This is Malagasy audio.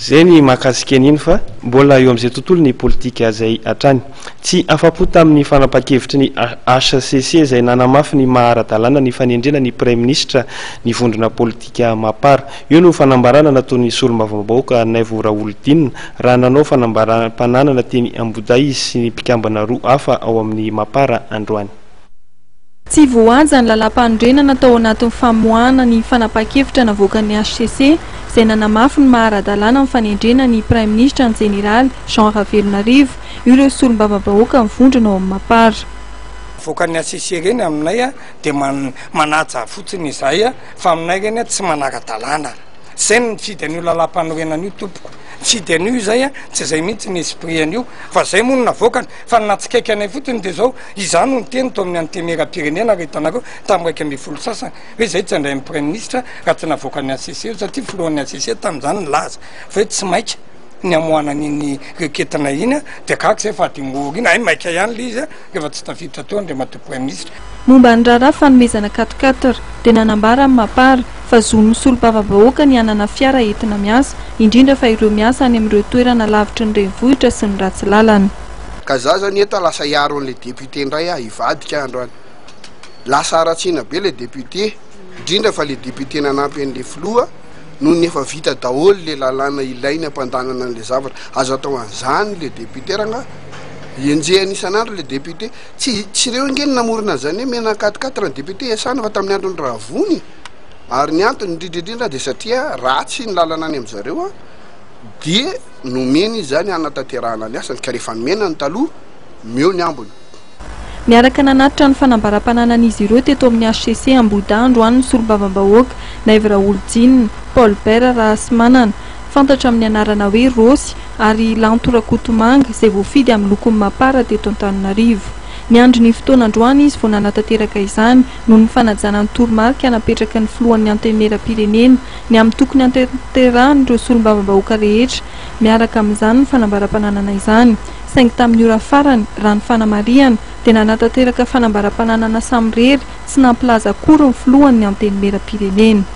Zay ny mahakasika an'iny fa mbola eo amin'izay tontolo ny politika izay hatrany. Tsy afa-po tamin'ny fanapahan-kevitry ny hcc izay nanamafy ny maha ara-dalàna ny fanendrena ny praiminisitra ny vondrona politika Mapar. Io no fanambarana nataon'ny solombavambahoaka Naivo Raholidinina raha nanao fanambaràm-pananana teny Ambohidahy izy sy ny mpikambana roa hafa ao amin'ny Mapar androany. Tsy voahaja ny lalàmpanorenana tao anatin'ny famoahana ny fanapahan-kevitra navoakan'ny hcc izay nanamafy ny maha ara-dalàna ny fanendrena ny Praiminisitra ny Jeneraly Jean Ravelonarivo, io ireo Solombavambahoaka mivondrona ao amin'ny Mapar. Avoakan'ny hcc ireny aminay dia manaja fotsiny izay fa aminay ireny tsy manara-dalàna. Izay no nifidy an'io lalàmpanorenana io tompoko. Nifidy an'io izay, tsy izay mihitsy ny esprit an'io fa izay moa no navoakany. Fa ny nahatsikaiky anay fotsiny dia izao, izaho no niteny tao amin'ny Antenimierampirenena ry hitanareo tamin'ny iraika ambin'ny folo sasany hoe izay tsy handray ny Praiminisitra raha tsy navoaka ny HCC io satria filohan'ny HCC tamin'izany nilaza fa hoe tsy maika ny hamoahana an'iny reketina iny dia gaga izay fa adingo aoriana, hay maika ihany ilay izy rehefa tsy tafiditra teo Andriamatoa Praiminisitra. Momba ny raharaha fanomezana carte quatre dia nanambara amin'ny Mapar fa zon'ny mpisolovava-bahoaka ny hanana fiara entina miasa, indrindra fa ireo miasa any amin'ireo toerana lavitry ny renivohitra sy ny ratsy lalana. Ka za zany eta lasa hiaro an'ilay député indray aho hivadika aho androany. Lasa haratsiana be ilay député, indrindra fa ilay député nanampy an'ilay filoha noho ny efa vita daholo ilay lalàna ilainy hampandanana an'ilay zavatra. Aza atao an'izany ilay député rangahy. Enjehina isan'andro ilay député. Tsy tsy ireo ange no namorona an'izany hoe mena quat-quatre raha ny député iasana fa tamin'ny andron'i Ravony ary ny antony indrindra indrindra dia satria ratsy ny lalana any amin-drizareo an dia nomeny izy izany hanatanterahana ny asany ka rehefa nomena ny taloha meo ny ambiny. Niaraka nanatitra ny fanambaram-pananan'izy ireo teto amin'ny hcc Ambohidahy androany ny solombavambahoaka, Naivo Raholdina, Paul Bert Rahasimanana, fantatra amin'ny anarana hoe Rossy, ary Lanto Rakotomanga, izay voafidy amin'ny lokon'ny Mapar teto Antananarivo. Niandry ny fotoana androany izy vao nanatanteraka izany, noho ny fanajana ny toromarika napetraky ny filohan'ny Antenimieram-pirenena, ny amin'ny tokony hanatanterahanaireo solombavambahoaka rehetra miaraka amin'izany ny fanambaram-pananana izany, saingy tamin'ny ora farany, raha ny fanamarihana, dia nanatanteraka fanambaram-pananana samirery tsy nampilaza akory ny filohan'ny Antenimieram-pirenena.